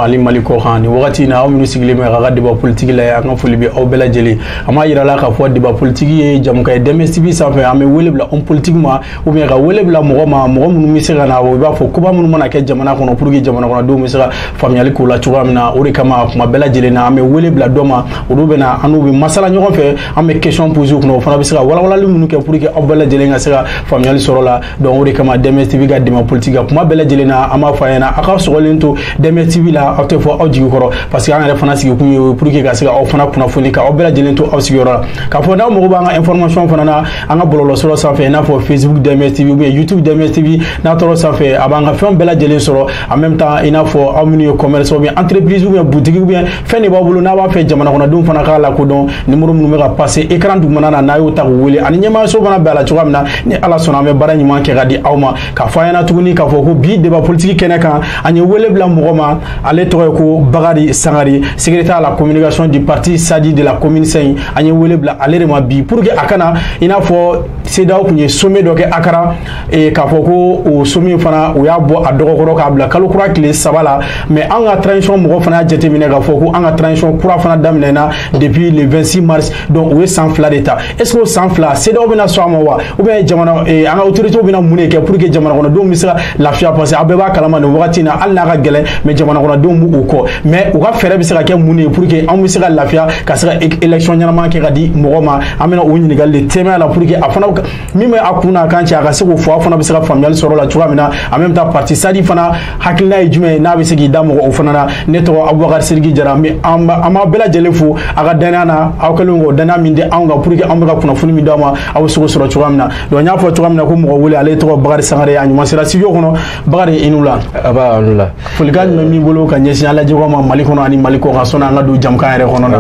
ani mali kɔ kan nin wagati na aw minnu sigilen bɛ ka ka débat politique la an ka foli bɛ aw bɛɛ lajɛlen an b'a yira la k'a fɔ débat politique ye jamukan ye DMS TV sanfɛ an bɛ wele bila homme politique ma ou bien ka wele bila mɔgɔ ma mɔgɔ minnu bɛ se ka na o i b'a fɔ koba minnu mana kɛ jamana kɔnɔ pour que jamana kɔnɔdenw bɛ se ka faamuyali k'o la cogoya min na o de kama kuma bɛɛ lajɛlen na an bɛ wele bila dɔ ma olu bɛ na an n'u bɛ masala ɲɔgɔn fɛ an bɛ question poser u kunna o fana bɛ se ka walawalali minnu kɛ pour que aw bɛɛ lajɛlen ka se ka faamuyali sɔrɔ la donc o de kama DMS TV ka débat politique ka kuma bɛɛ lajɛlen na an b'a fɔ a ɲɛna a ka sɔgɔlen to DMS TV la aw tɛ fɔ aw jigi kɔrɔ parce que an yɛrɛ fana sigikun ye pour que ka se ka aw fana kunnafoni ka aw bɛɛ lajɛlen to aw sigiyɔrɔ la k'a fɔ n'aw mago b'an ka information fana na an ka bɔlɔlɔsira sanfɛ i n'a fɔ facebook DMS TV ou bien youtube DMS TV n'a taara o sanfɛ a b'an ka fɛnw bɛɛ lajɛlen sɔrɔ en même temps i n'a fɔ aw minnu ye commerce ou bien entreprise ou bien boutique ou bien fɛn de b'a bolo n'a b'a fɛ jamanakɔnɔdenw fana k'a lakodɔn numéro minnu bɛ ka passer écran dugumana na n'a y'o ta k'u wele ani ɲɛmaayaso fana bɛ a la cogoya min na ni ala sɔnna an bɛ baara ɲuman kɛ ka di aw ma k'a fɔ an ɲɛna tuguni k'a fɔ ko bi débat politique kɛnɛ kan an ye wele bila mɔgɔ ma ale tɔgɔ ye ko bakari sangare secrétaire à la communication du parti sadi de la commune cinq an ye wele bila ale de ma bi pour que a ka na i n'a fɔ CEDEAO tun ye sommet dɔ kɛ akara ee k'a fɔ ko o sommet fana u y'a bɔ a dɔgɔkɔrɔ k'a bila kalo kura tile saba la mais an ka transition mɔgɔ fana y'a jateminɛ k'a fɔ ko an ka transition kura fana daminɛna depuis le 26 mars donc u ye san fila de ta est ce que o san fila CEDEAO bɛna sɔn a ma wa ou bien jamana ee an ka autorités bɛna mun de kɛ pour que jamanakɔnɔdenw bɛ se ka lafiya parce que aw bɛɛ b'a kalama nin wagati in na hali n'a ka gɛlɛn mais jamanakɔnɔdenw b'u kɔ mais u ka fɛɛrɛ bɛ se ka kɛ mun de ye pour que anw bɛ se ka lafiya ka se ka élection ɲɛnama kɛ ka di mɔgɔ ma an bɛna o ɲininkali de tɛmɛ a la pour que a fana min bɛ a kun n'a kan cɛ a ka se k'o fɔ a fana bɛ se ka faamuyali sɔrɔ o la cogoya min na en même temps parti sadi fana hakilina ye jumɛn ye n'a bɛ se k'i da maga o fana na ne tɔgɔ abubakari sidiki jara an bɛ an b'a an b'a bɛɛ lajɛlen fo a ka dannaya na aw kɛlen k'o dannaya min di anw kan pour que anw bɛ ka kunnafoni min d'aw ma aw bɛ se k'o sɔrɔ cogoya min na donc n y'a fɔ cogoya min na ko mɔgɔ wele ale tɔgɔ bakari sangare ye a ɲuman sera studio kɔnɔ bakari i ni wula nba i ni wula folikan jumɛn b'i bolo ka ɲɛsin an lajɛbagaw ma mali kɔnɔ ani mali kɔ kan sɔnni an ka don jamukan yɛrɛ kɔnɔ na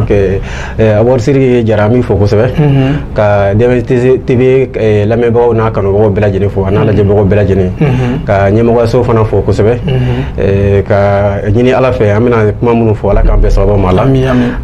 Eh, Abubakari Sidiki Jara an b'i fo kosɛbɛ mhm. ka DMS TV eh, lamɛnbagaw n'a kanubagaw bɛɛ lajɛlen fo a n'a mhm. lajɛbagaw bɛɛ lajɛlen mhm. ka ɲɛmɔgɔyaso fana fo kosɛbɛ eh, ka ɲini Ala fɛ an bɛna kuma minnu fɔ Ala k'an bɛɛ sababu ma la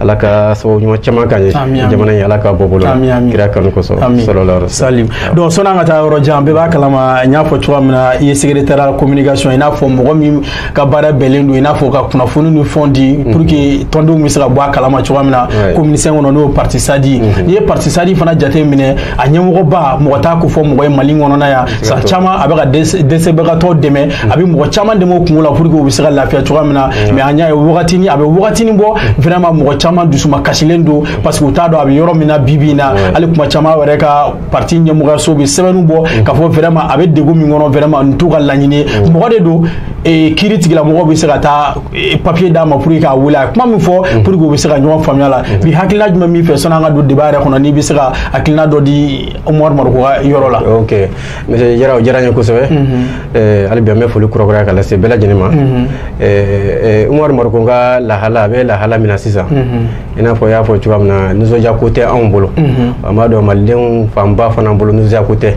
Ala ka sababu ɲuman caman k'an ye jamana in Ala ka bɔ bolo kira kanu kosɔn salala salim donc sɔnni an ka taa yɔrɔ jan bɛɛ b'a kalama n y'a fɔ cogoya min na i ye secrétaire à la communication i n'a fɔ mɔgɔ min ka baara bɛnlen don i n'a fɔ ka kunnafoni ni fɛnw di mhm. pour que tɔndenw bɛ se ka bɔ a kalama cogoya min na commune cinq kɔnɔ n'o ye parti sadi mhm. n'i ye parti sadi fana jate minɛ a ɲɛmɔgɔba mɔgɔ t'a ko fɔ mɔgɔ ye mali kɔnɔna yan san caman a bɛ ka dɛsɛbagatɔ dɛmɛ mhm. a bɛ mɔgɔ caman dɛmɛ u kunko la pour que u bɛ se ka lafiya cogoya min na mais an y'a ye wagatini a bɛ wagatini bɔ vraiment mɔgɔ caman dusuma kasilen don parce que u t'a dɔn a bɛ yɔrɔ min na bi bi in na hali kuma caman yɛrɛ ka parti ɲɛmɔgɔyaso bɛ sɛbɛnniw bɔ mm. k'a fɔ vraiment a bɛ degun min kɔnɔ vraiment nin t'u ka laɲini ye mm. mɔgɔ de don eh, kiiritigɛlamɔgɔw bɛ se ka taa eh, papier d'a ma pour k'a wele a ye kuma min fɔ mm. pour que u bɛ se ka ɲɔgɔn faamuya la bi hakilina jumɛn b'i fɛ sɔnni an ka don débat yɛrɛ kɔnɔ n'i bɛ se ka hakilina dɔ di Umaru Mariko ka yɔrɔ la. ok monsieur Jara o diyara n ye kosɛbɛ mm-hmm. eh, hali bi an bɛ foli kurakuraya ka lase bɛɛ lajɛlen ma mm-hmm. Umaru Mariko ka lahala a bɛ lahala min na sisan mm-hmm. i n'a fɔ y'a fɔ cogoya min na nisɔndiya ko tɛ anw bolo an b'a dɔn malidenw fanba fana bolo nisɔndiya ko tɛ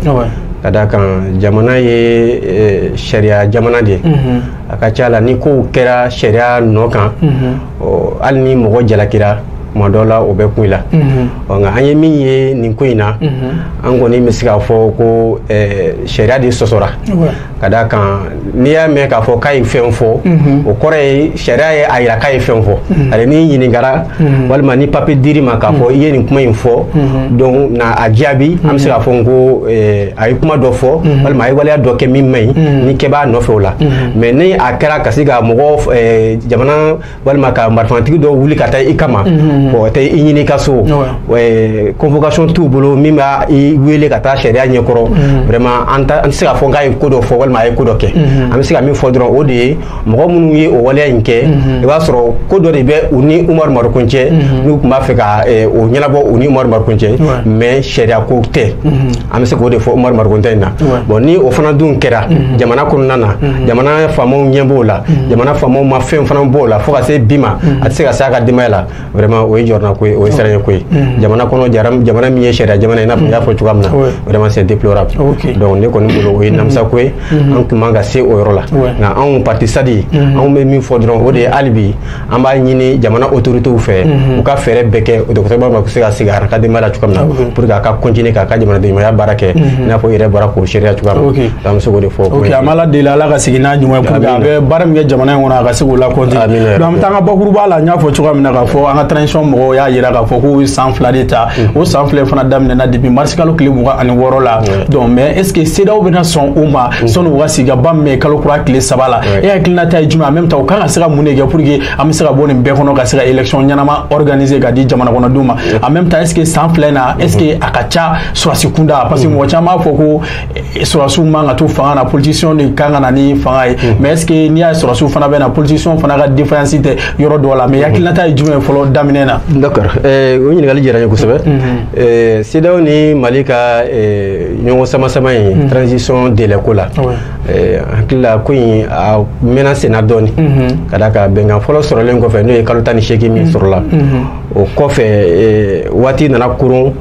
ka d'a kan jamana ye eh, sariya jamana de ye a ka ca la ni kow kɛra sariya nɔ kan hali ni mɔgɔ jalakira tuma dɔ la o bɛ kun i la nka an ye min ye nin ko in na an kɔni bɛ se k'a fɔ ko eh, sariya de sɔsɔra ka d'a kan n'i y'a mɛn k'a fɔ k'a ye fɛn fɔ mhm. o kɔrɔ ye sariya ye a yira k'a ye fɛn fɔ mhm. ani n'i ɲininkara mhm. walima ni papier dir'i ma k'a fɔ i ye nin kuma in fɔ donc na a jaabi an bɛ se k'a fɔ n ko eh, a ye kuma dɔ fɔ walima a ye waleya dɔ kɛ min man ɲi ni kɛ b'a nɔfɛ o la mais ni a kɛra ka se ka mɔgɔ eh, jamana walima ka marifatigi dɔw wuli ka taa i kama mhm. o tɛ i ɲini ka so convocation t'u bolo min b'i wele ka taa sariya ɲɛkɔrɔ mhm. vraiment an tɛ se k'a fɔ k'a ye ko dɔ fɔ walima a ye ko dɔ kɛ mhm. an bɛ se ka min fɔ dɔrɔn o de ye mɔgɔ minnu ye o waleya in kɛ i b'a sɔrɔ ko dɔ de bɛ u ni Umaru Mariko cɛ n'u tun b'a fɛ ka o ɲɛnabɔ u ni Umaru Mariko cɛ mais sariya ko tɛ an bɛ se k'o de fɔ Umaru Mariko ta in na bon ni o fana dun kɛra mhm. jamana kɔnɔna na mhm. jamana faamaw ɲɛ b'o la mhm. jamana faamaw ma fɛn fana b'o la fo ka se bi ma a tɛ se ka se a ka denbaya la vraiment o ye jɔrɔna ko ye o ye siranya ko ye jamana kɔnɔ jamana min ye sariya jamana i n'a fɔ n y'a fɔ cogoya min na vraiment c'est déplorable donc ne kɔni bolo o ye namisa ko ye an tun man ka se o yɔrɔ la nka anw parti SADI anw bɛ min fɔ dɔrɔn o de ye hali bi an b'a ɲini jamana autorités fɛ u ka fɛɛrɛ bɛɛ kɛ o dɔgɔtɔrɔ bɛna se ka segin a ka denbaya la cogo min na pour que a ka continuer k'a ka jamanadenɲumanya baara kɛ i n'a fɔ i yɛrɛ bɔra k'o seereya cogoya min na an bɛ se k'o de fɔ ok an b'ala deli ala ka segin n'a ɲuman ye pour que a bɛ baara min kɛ jamana in kɔnɔ a ka se k'o la continuer donc an bɛ taa an ka bakuruba la n y'a fɔ cogoya min na k'a fɔ an ka transition mɔgɔw y'a jira k'a fɔ k'u ye san fila de ta o san fila fana daminɛna depuis mars kalo tile mugan ani wɔɔrɔ la donc mais est ce que CEDEAO bɛna sɔn o ma sɔni u ka sigikaba min bɛ yen kalo kura tile saba la e hakilinata ye jumɛn en même temps u kan ka ka se ka mun de kɛ pour que an bɛ se ka bɔ nin bɛɛ kɔnɔ ka se ka élection ɲɛnama organiser k'a di jamana kɔnɔdenw ma en même temps est ce que san fila in na est ce que a ka ca sɔrɔdasi kunda parce que mɔgɔ caman b'a fɔ ko eh, sɔrɔdasiw man ka to fanga na politiciens de kan ka na ni fanga ye mais est ce que n'i y'a ye sɔrɔdasiw fana bɛ na politiciens fana ka différence tɛ yɔrɔ dɔ la mais hakilinata ye jumɛn ye fɔlɔ daminɛ na. d'accord eh, o ɲininkali diyara n ye kosɛbɛ eh, CEDEAO ni Mali ka ɲɔgɔn samasama in transition délai ko la. Eh, hakili la ko in a mɛnna senna dɔɔni mhm. ka d'a kan bɛnkan fɔlɔ sɔrɔlen kɔfɛ n'o ye kalo tan ni seegin min mhm. sɔrɔla mhm. o kɔfɛ eh, waati nana kurun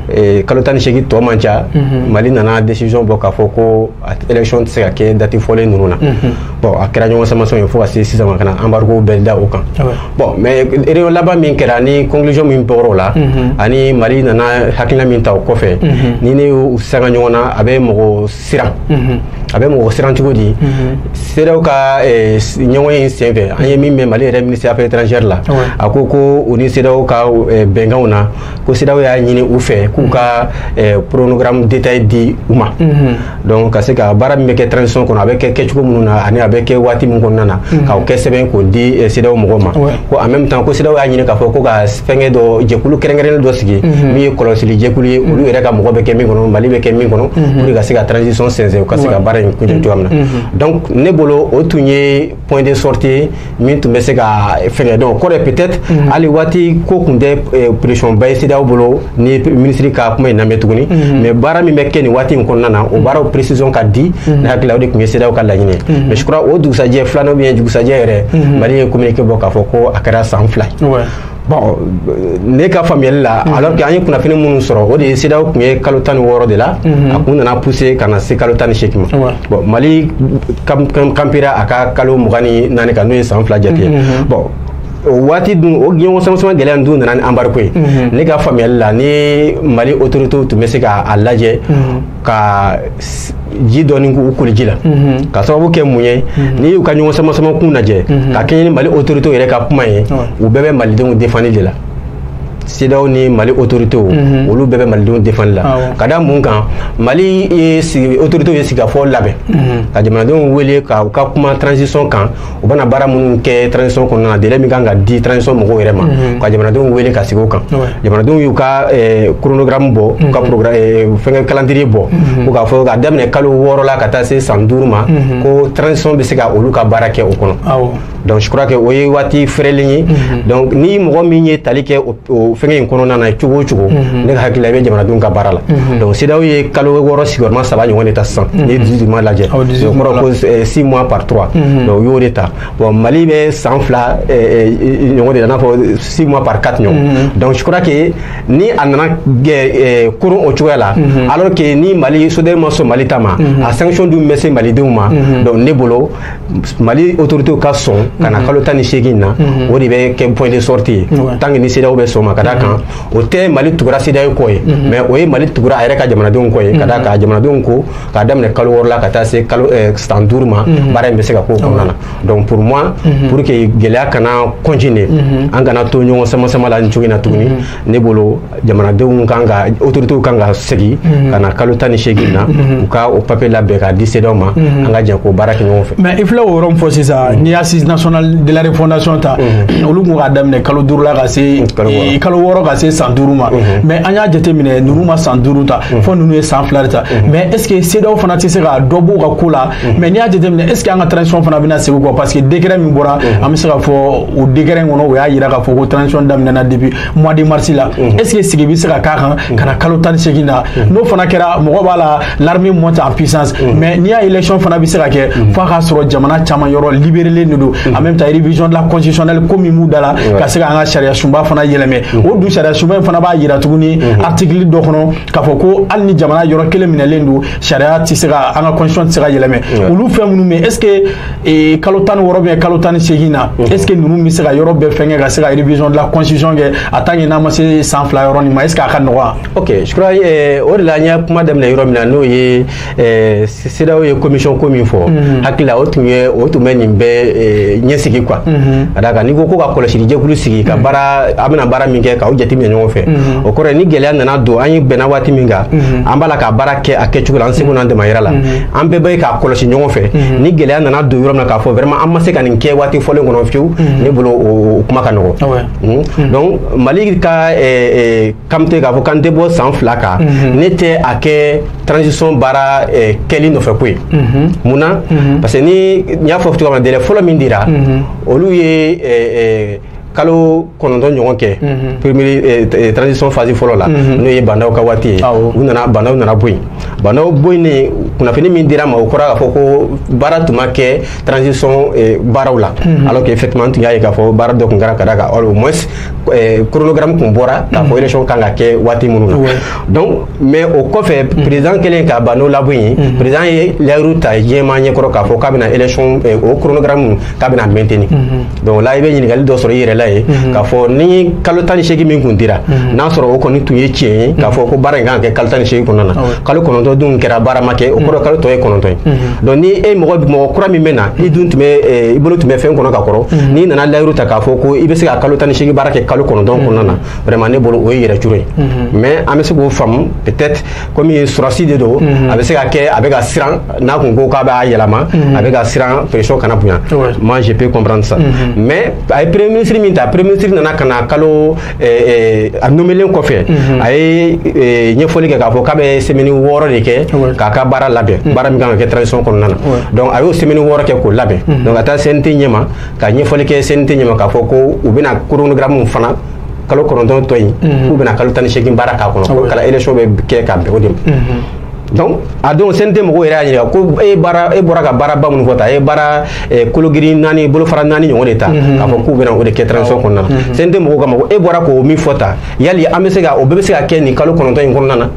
eh, kalo tan ni seegin tɔ man ca mali nana décision bɔ k'a fɔ ko élection tɛ se ka kɛ dati fɔlen ninnu na bon a kɛra ɲɔgɔn samasama ye fo ka se sisan ma ka na embargo bɛɛ da o kan ah bon mais réunion laban min kɛra ni conclusion min bɔra o la ani mali nana hakilina min ta o kɔfɛ ni ne y'u sanga ɲɔgɔn na a bɛ mɔgɔ siran a bɛ mɔgɔ siran cogo di CEDEAO ka ɲɔgɔnye senfɛ an ye min mɛn mali yɛrɛ minisiri affaires étrangères la a ko ko u ni CEDEAO ka bɛnkanw na ko CEDEAO y'a ɲini u fɛ k'u ka chronogramme détaillé di u ma donc ka se ka baara min bɛ kɛ transition kɔnɔ a bɛ kɛ kɛcogo minnu na ani a bɛ kɛ waati min kɔnɔna na k'o kɛ sɛbɛn k'o di CEDEAO mɔgɔw ma ko en même temps ko CEDEAO y'a ɲini k'a fɔ ko ka fɛngɛ dɔ jɛkulu kɛrɛnkɛrɛnnen dɔ sigi min ye kɔlɔsili jɛkulu ye olu yɛrɛ ka mɔgɔ bɛ kɛ min kɔnɔ mali bɛ kɛ min kɔnɔ pour que ka se ka transition sɛnsɛn u ka se ka baara in kuncɛ cogoya min na donc ne bolo o tun ye point de sortie ye min tun bɛ se ka fɛngɛ donc o kɔrɔ ye peut-être hali waati ko tun tɛ pression ba ye CEDEAO bolo ni minisiri ka kuma in lamɛn tuguni mhm. mais baara min bɛ kɛ nin waati in kɔnɔna na o mhm. baaraw précision ka di mhm. ne hakili la o de tun ye CEDEAO ka laɲini mais je crois o dugusajɛ filanan ou bien dugusajɛ yɛrɛ mali ye communiqué bɔ k'a fɔ ko a kɛra san fila ye bon ne ka faamuyali la alors que an ye kunnafoni minnu sɔrɔ o de ye CEDEAO tun ye kalo tan ni wɔɔrɔ de la a kun nana pousser ka na se kalo tan ni seegin ma bon mali campera a ka kalo mugan ni naani kan n'o ye san fila jate ye bon o waati dun o ɲɔgɔn samasama gɛlɛya dun nana ni embargo ye mhm. ne ka faamuyali la ni mali autoritew tun bɛ se ka a lajɛ mhm. ka ji dɔɔni k'u koli ji la mhm. ka sababu kɛ mun ye n'i y'u ka ɲɔgɔn samasama kun lajɛ ka kɛɲɛ ni mali autoritew yɛrɛ ka kuma ye u bɛɛ bɛ malidenw défendre de la CEDEAO ni mali autoritew mhm. olu bɛɛ bɛ malidenw défendre la ah ka da mun kan mali autoritew ye sigikafɔ labɛn mhm. ka jamanadenw wele ka u ka kuma transition kan u bɛna baara minnu kɛ transition kɔnɔna na délai min ka kan ka di transition mɔgɔw yɛrɛ ma mhm. ka jamanadenw wele ka sigi o kan jamanadenw y'u ka eh, chronogramme bɔ u ka mhm. eh, fɛngɛ calendrier bɔ mhm. ko k'a fɔ ka daminɛ kalo wɔɔrɔ la ka taa se san duuru ma ko transition bɛ se ka olu ka baara kɛ o kɔnɔ donc je crois que o ye waati fɛrɛlen ye donc ni mɔgɔ min ye tali kɛ o o fɛngɛ in kɔnɔna na cogo o cogo mhm. ne ka hakili la i bɛ jamanadenw ka baara la mhm. donc CEDEAO ye kalo wɔɔrɔ sigiyɔrɔma saba ɲɔgɔn de ta sisan mhm. n'i ye dix-huit mois lajɛ o kɔrɔ ko eh, six mois par trois donc u y'o de ta bon Mali bɛ san fila eh, eh, ɲɔgɔn de la i n'a fɔ six mois par quatre ɲɔgɔn donc je crois que ni a nana kurun o cogoya la alors que ni Mali CEDEAO ma sɔn Mali ta ma a sanction dun bɛ se Malidenw ma donc ne bolo mali autorité ka sɔn ka na mhm. kalo tan ni seegin na mhm. o de bɛ kɛ point de sortie ye tant que ni CEDEAO bɛ sɔn ma ka da kan mhm. o tɛ mali tugura CEDEAO kɔ ye mais o ye mali tugura a yɛrɛ ka jamanadenw kɔ ye ka da kan jamanadenw ko k'a daminɛ kalo wɔɔrɔ la ka taa se kalo eh, san duuru ma baara in bɛ se ka k'o kɔnɔna na donc pour moi pour que gɛlɛya kana continuer an kana to ɲɔgɔn sama sama la nin cogo in na tuguni ne bolo jamanadenw kan ka autorités kan ka segin mhm. ka na kalo tan ni seegin na mhm. u ka o papier labɛn k'a di CEDEAO ma mhm. an ka jɛ k'o baara kɛ ɲɔgɔn fɛ mais i filɛ o yɔrɔ min fɔ sisan n'i ye assise nationale de la refondation ta olu kun k'a daminɛ kalo duuru la ka se kalo wɔɔrɔ ka se san duuru ma mais an y'a jateminɛ ninnu ma san duuru ta fo ninnu ye san fila de ta mais est ce que CEDEAO fana tɛ se ka dɔ b'u ka ko la mais n'i y'a jateminɛ est ce que an ka transition fana bɛna segin kɔ parce que décret min bɔra an bɛ se ka fɔ o décret in kɔnɔ o y'a jira k'a fɔ ko transition daminɛna depuis mois de mars la est ce que sigi bɛ se ka k'a kan ka na kalo tan ni seegin na n'o fana kɛra mɔgɔ b'a la l'armée monte en puissance mais n'i y'a élection fana bɛ se ka kɛ f'a k'a sɔrɔ jamana caman yɔrɔ libérelen de don en même temps révision de la constitutionnelle ko min b'u da la ka se ka an ka sariya sunba fana yɛlɛmɛ o dun sariya sunba in fana b'a yira tuguni article dɔ kɔnɔ k'a fɔ ko hali ni jamana yɔrɔ kelen minɛlen don sariya tɛ se ka an ka constitution tɛ se ka yɛlɛmɛ olu fɛn minnu bɛ est ce que ee kalo tan ni wɔɔrɔ ou bien kalo tan ni seegin na mhm. est ce que ninnu bɛ se ka yɔrɔ bɛɛ fɛnkɛ ka se ka révision de la constitution kɛ a tant que n'a ma se san fila yɔrɔ nin ma est ce que a ka nɔgɔya. ok je crois eh, o de la an ye kuma daminɛ yɔrɔ min na n'o ye eh, CEDEAO ye commission ko min fɔ mhm. hakili la o tun ye o tun bɛ nin bɛɛ eh, ɲɛsigi quoi mhm. ka d'a kan n'i ko ko ka kɔlɔsili jɛkulu sigi ka baara a bɛna baara min kɛ k'a jateminɛ ɲɔgɔn fɛ o kɔrɔ ye ni gɛlɛya nana don an ye bɛnna waati min kan an b'a la ka baara kɛ a kɛcogo la an seko n'an damayira la an bɛɛ bɛ k'a kɔlɔsi ɲɔgɔn fɛ mhm. ni gɛlɛya nana don yɔrɔ min na k'a fɔ vraiment an ma se ka nin kɛ waati fɔlen kɔnɔ fiyewu mhm. ne bolo o kuma ka nɔgɔ ah mhm. donc mali ka kamite k'a fɔ k'an tɛ bɔ san fila kan ne tɛ a kɛ transition baara kɛli nɔfɛ ko ye mun na parce que ni n y'a fɔ cogoya min na délai fɔlɔ min dira olu ye kalo kɔnɔntɔn ɲɔgɔn kɛ mhm. premier eh, eh, transition phase fɔlɔ la mhm. n'o ye Bah N'Daw ka waati ye u nana Bah N'Daw nana bɔ yen Bah N'Daw bɔ yen ne kunnafoni min dira an ma o kɔrɔ k'a fɔ ko baara tun ma kɛ transition eh, baaraw la mhm. alors que effectivement n tun y'a ye k'a fɔ baara dɔ tun kɛra ka da kan au moins chronogramme tun bɔra k'a fɔ élection kan ka kɛ waati minnu na donc mais o kɔfɛ président kɛlen ka Bah N'Daw labɔ yen président ye layiru ta diɲɛmaa ɲɛkɔrɔ k'a fɔ k'a bɛna élection o chronogramme k'a bɛna maintenir donc là i bɛ ɲininkali dɔ sɔrɔ i yɛrɛ la ye mhm. k'a fɔ ni kalo tan ni seegin min kun dira mhm. n'a sɔrɔ o kɔni tun ye tiɲɛ ye k'a fɔ ko baara in kan ka kɛ kalo tan ni seegin kɔnɔna na kalo kɔnɔntɔn dun kɛra baara ma kɛ o kɔrɔ mhm. kalo tɔ ye kɔnɔntɔn ye donc ni e mɔgɔ mɔgɔ kura min bɛ na i dun tun bɛ eh, i bolo tun bɛ fɛn kɔnɔ ka kɔrɔ n'i nana layiru ta k'a fɔ ko i bɛ se ka kalo tan ni seegin baara kɛ kalo kɔnɔntɔn kɔnɔna na vraiment ne bolo o ye yɛrɛ curo ye mais an bɛ se k'o faamu peut-être komi ye sɔrasi de don mhm. a bɛ se ka kɛ a bɛ ka siran n'a kun ko k'a b'a yɛlɛma mhm. a bɛ ka siran pression kana bonya moi je peux comprendre ça mhm. mais a ye premier ministre min ta premier ministre nana ka na kalo eh, eh, a nomelen kɔfɛ a ye eh, ɲɛfɔli kɛ k'a fɔ k'a bɛ semaine wɔɔrɔ de kɛ k'a ka baara labɛn baara min kan ka kɛ transition kɔnɔna na donc a y'o semaine wɔɔrɔ kɛ k'o labɛn donc ka taa CNT ɲɛma ka ɲɛfɔli kɛ CNT ɲɛma k'a fɔ ko u bɛna chronogramme fana kalo kɔnɔntɔn tɔ in mhm. k'u bɛna kalo tan ni seegin baara k'a kɔnɔ ko kala élection bɛ kɛ ka bɛn o de ma mhm. donc a don CNT mɔgɔw yɛrɛ y'a ɲininka ko e baara e bɔra ka baaraba minnu fɔ ta e baara eh, kologirin naani bolofara naani ɲɔgɔn de ta mhm. k'a fɔ k'u bɛna o de kɛ transition kɔnɔna na CNT mɔgɔw k'a ma ko e bɔra k'o min fɔ ta yali an bɛ se ka o bɛɛ bɛ se ka kɛ nin kalo kɔnɔntɔn in kɔnɔna na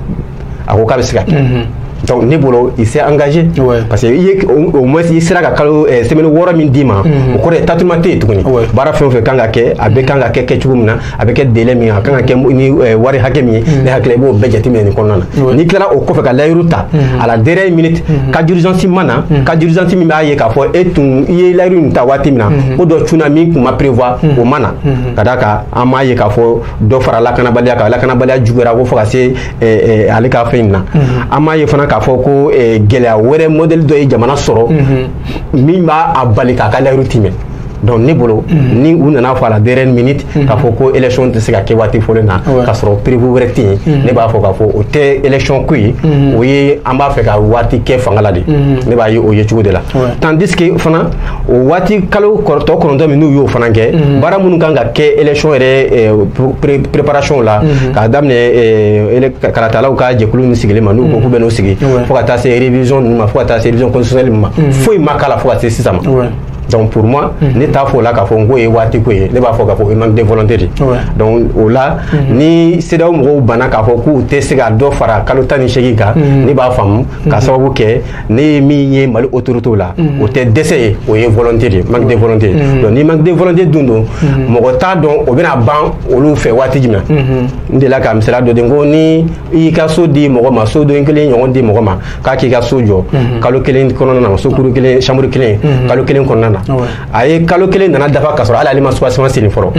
a ko k'a bɛ se ka kɛ mhm. donc ne bolo il s'est engagé parce que i ye au moins i sera ka kalo eh, semaine wɔɔrɔ min d'i ma mhm. o kɔrɔ ye tâtonnement tɛ yen tuguni baara fɛn o fɛn kan ka kɛ a bɛ kan ka kɛ kɛ cogo min na a bɛ kɛ délai min a kan ka kɛ ni eh, wari hakɛ min ye mhm. ne hakili la i b'o bɛɛ jateminɛ nin kɔnɔna na n'i tilara o kɔfɛ ka layiru ta à la dernière minute cas d'urgence ma na cas d'urgence min b'a ye k'a fɔ e tun i ye layiru in ta waati min na ko dɔ cunna min tun ma prévoir o ma na ka d'a kan an m'a ye k'a fɔ dɔ fara lakanabaliya kan lakanabaliya juguyara ko fo ka se eh, eh, ale ka fɛn in na mhm. an m'a ye fana k'a fɔ ko eh, gɛlɛya wɛrɛ modèle dɔ ye jamana sɔrɔ mhm. min b'a bali k'a ka layiru timɛ donc ne bolo mhm. ni u nana fɔ à la dernière minute k'a fɔ ko élection tɛ se ka kɛ waati fɔlen na k'a sɔrɔ imprévu wɛrɛ tɛ yen ne b'a fɔ k'a fɔ o tɛ élection ko ye o ye an b'a fɛ ka waati kɛ fanga la de ne b'a ye o ye cogo de la tandis que fana o waati kalo tɔ kɔnɔntɔn min n'u y'o fana kɛ mhm. baara minnu kan ka kɛ élection yɛrɛ eh, préparation la mhm. k'a daminɛ eh, kalatalaw ka jɛkulu min sigilen ma n'u ko k'u bɛn'o sigi mhm. fo ka taa se révision ninnu ma fo ka taa se révision constitutionnelle ma foyi ma k'a la fo ka se sisan ma donc pour moi ne t'a fɔ o la k'a fɔ n k'o ye waati ko ye ne b'a fɔ k'a fɔ o ye manque de volonté de donc o la ni CEDEAO mɔgɔw banna k'a fɔ k'u tɛ se ka dɔ fara kalo tan ni seegin kan ne b'a faamu k'a sababu kɛ ne ye min ye Mali autorité la mm. o tɛ dɛsɛ ye o ye volonté de ye manque de mm. volonté mm. donc ni manque de volonté dun don mɔgɔ t'a dɔn o bɛna ban olu fɛ waati jumɛn mm-hmm. n delila ka misaliya dɔ di ko ni i y'i ka so di mɔgɔ ma soden kelen ɲɔgɔn di mɔgɔ ma k'a k'i ka so jɔ mm-hmm. kalo kelen kɔnɔna na sokuru kelen chambre kelen mm-hmm. kalo kelen kɔnɔna na a ye kalo kelen nana dafa ka sɔrɔ hali ale ma soubassement senni fɔlɔ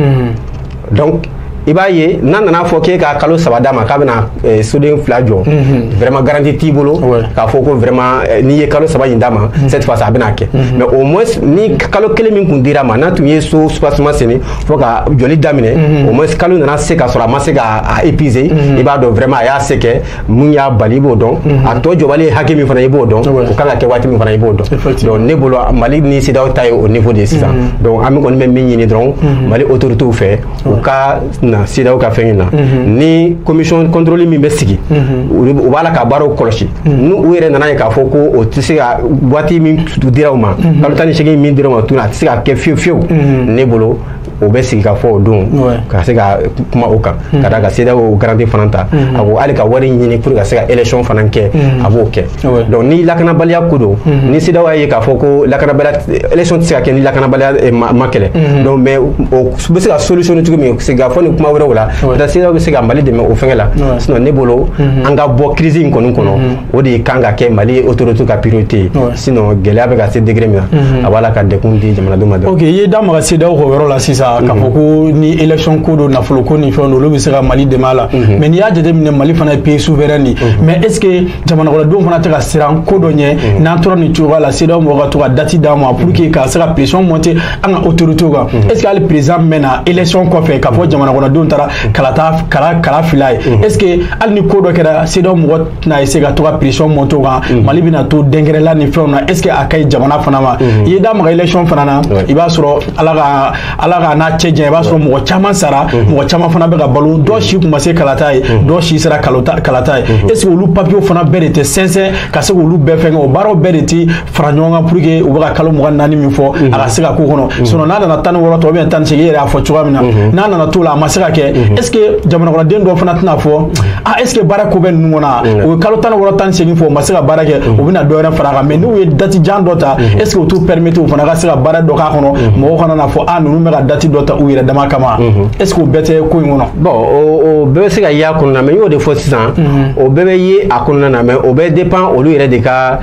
donc i b'a ye n'a nana fɔ k'e ka kalo saba d'a ma k'a bɛna eh, soden fila jɔ mhm. vraiment garantie t'i bolo k'a fɔ ko vraiment eh, n'i ye kalo saba in d'a ma mhm. cette fois-ci a bɛna kɛ mhm. mais au moins ni kalo kelen min kun dir'a ma n'a tun ye soubassement senni fo ka jɔli daminɛ au moins kalo nana se ka sɔrɔ a ma se ka a épuiser i b'a dɔn vraiment a y'a se kɛ mun y'a bali i b'o dɔn mhm. a tɔ jɔbali ye hakɛ min fana i b'o dɔn o kan ka kɛ waati min fana i b'o dɔn donc ne bolo mali ni CEDEAO ta ye o niveau de ye sisan mhm. donc an bɛ kɔni bɛ min ɲini dɔrɔn mhm. mali autorités fɛ u ka na CEDEAO ka fɛn in na ni commission contrôle min bɛ sigi u b'a la ka baaraw kɔlɔsi n'u yɛrɛ nana ye k'a fɔ ko o tɛ se ka waati min dira u ma kalo tan ni seegin min dira u ma tuguni a tɛ se ka kɛ fiyewu fiyewu ne bolo o bɛ sigi ka fɔ o don ka se ka kuma o kan hmm. ka da ka CEDEAO garantie fana ta hmm. a ko hali ka wari ɲini pour ka se ka élection fana kɛ hmm. a b'o kɛ donc ni lakanabaliya ko don ni CEDEAO y'a ye k'a fɔ ko lakanabaliya élection tɛ se ka kɛ ni lakanabaliya eh, ma kɛlɛ donc mais o bɛ se ka solution ɲini cogo min sigi ka fɔ ni kuma wɛrɛw la peut-être CEDEAO bɛ se ka Mali dɛmɛ o fɛngɛ la sinon ne bolo an ka bɔ crise in kɔni kɔnɔ o de kan ka kɛ mali autorité ka priorité ye sinon gɛlɛya bɛ ka se degré min na mhm. a b'a la ka degun di jamanadenw ma dɔrɔn ok i ye da maga CEDEAO ka yɔrɔ la sisan k'a fɔ mhm. ko ni élection ko don nafolo ko ni fɛn don olu bɛ se ka mali dɛmɛ a la mhm. mais n'i y'a jateminɛ mali fana ye pays souverain de mais est ce que jamanakɔnɔdenw fana tɛ ka siran ko dɔ ɲɛ n'an tora nin cogoya la CEDEAO mɔgɔw ka to ka date d'an ma pour que ka se ka pression monter an ka autorité kan est ce que hali président min na élection kɔfɛ k'a fɔ jamanakɔnɔdenw taara kala kala kala fil'a ye est ce que hali ni ko dɔ kɛra CEDEAO mɔgɔ tɛna essayer ka to ka pression monter o kan mhm. mali bɛna to dɛnkɛrɛla ni fɛnw na est ce que a ka ɲi jamana fana ma mhm. i ye da maga élection fana na i b'a sɔrɔ ala ka ala k'an n'a cɛ janya i b'a sɔrɔ mɔgɔ caman sara mhm. mɔgɔ caman fana bɛ ka balo dɔ si tun ma se kalata ye dɔ si sera kalata ye est ce que olu papiers fana bɛɛ de tɛ sɛnsɛn ka se k'olu bɛɛ fɛngɛ o baaraw bɛɛ de tɛ fara ɲɔgɔn kan pour que u bɛ ka kalo mugan naani min fɔ mhm. a ka se ka k'o kɔnɔ mhm. sinon n'a nana tan ni wɔɔrɔ tɔ ou bien tan ni seegin e yɛrɛ y'a fɔ cogoya min na mhm. n'a nana t'o la a ma se ka kɛ est ce que jamanakɔnɔden dɔw fana tɛna fɔ a est ce que baara ko bɛ ninnu kɔnɔ a u ye kalo tan ni wɔɔrɔ tan ni seegin fɔ u ma se ka baara kɛ u bɛna dɔ wɛrɛ fara a kan mais n'u ye date jan dɔ ta est ce que o t'u permettre u fana ka se ka baara dɔ k'a kɔnɔ mɔgɔw kana na fɔ a ninnu bɛ ka date dɔ ta u yɛrɛ dama kama est ce que o bɛɛ tɛ ko in kɔnɔ bon o bɛɛ bɛ se ka ye a kɔnɔna mais n y'o de fɔ sisan o bɛɛ bɛ ye a kɔnɔna na mais o bɛ dépend olu yɛrɛ de ka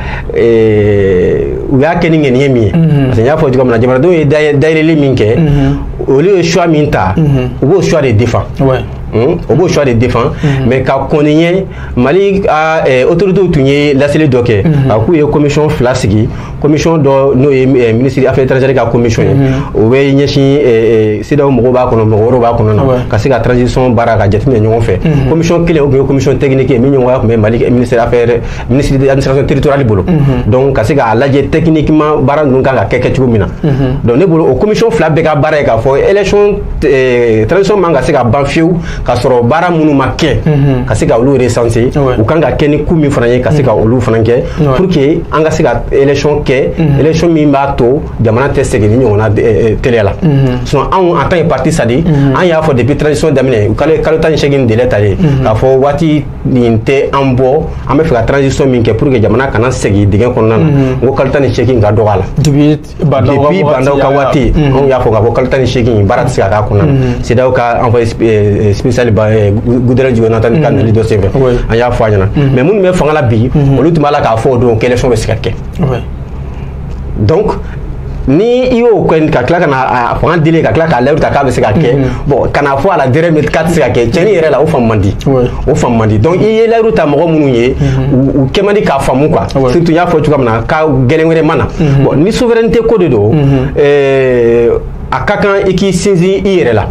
u y'a kɛ ni ŋaniya min ye parce que n y'a fɔ cogo min na jamanadenw ye dayɛlɛli min kɛ olu ye choix min ta u b'o choix de défend o b'o choix de défend mais ka kɔn o ɲɛ mali autorités tun ye laseli dɔ kɛ a k'u ye commission fila sigi commission dɔ n'o ye ministre affaires étrangères ka commission ye o bɛ ɲɛsin CEDEAO mɔgɔw b'a kɔnɔ mɔgɔ wɛrɛw b'a kɔnɔ na ka se ka transition baara ka jateminɛ ɲɔgɔn fɛ commission kelen o tun ye commission technique ye min ɲɛmɔgɔya tun bɛ mali ministre affaires ministre de l'administration territoriale bolo mhm. donc ka se k'a lajɛ techniquement baara ninnu kan ka kɛ kɛ cogo min na mhm. donc ne bolo o commission fila bɛɛ ka baara ye k'a fɔ élection eh, transition man ka se ka ban fiyewu k'a sɔrɔ baara minnu ma kɛ mhm. ka se ka olu recenser u kan ka kɛ ni ko min fana ye ka se ka olu fana kɛ pour que an ka se ka élection kɛ élection min b'a to jamana tɛ segin nin ɲɔgɔn na eh, eh, teliya la sinon anw en tant que parti SADI an y'a fɔ depuis transition daminɛ u kalo tan ni seegin délai talen k'a fɔ waati nin tɛ an bɔ an bɛ fɛ ka transition min kɛ pour que jamana kana segin dingɛ kɔnɔna na mhm. n ko kalo tan ni seegin ka dɔgɔ a la depuis Bah N'Daw ka waati mhm. anw y'a fɔ k'a fɔ kalo tan ni seegin baara tɛ se ka k'a kɔnɔna na mhm. CEDEAO ka envoyé spécial eh, Goodluck Jonathan ka nali dɔ senfɛ an y'a fɔ a ɲɛna mais minnu bɛ fanga la bi olu tun b'a la k'a fɔ o don ko élection bɛ se ka kɛ donc ni i y'o kɛ ka tila ka na a fanga dili ka tila k'a layidu ta k'a bɛ se ka kɛ bon ka n'a fɔ à la dernière minute k'a tɛ se ka kɛ cɛnni yɛrɛ la o faamu man di o faamu man di donc i ye layidu ta mɔgɔ minnu ye u kɛ man di k'a faamu quoi surtout n y'a fɔ cogoya min na ko gɛlɛn wɛrɛ ma na bon ni souveraineté ko de don a ka kan i k'i sinsin i yɛrɛ la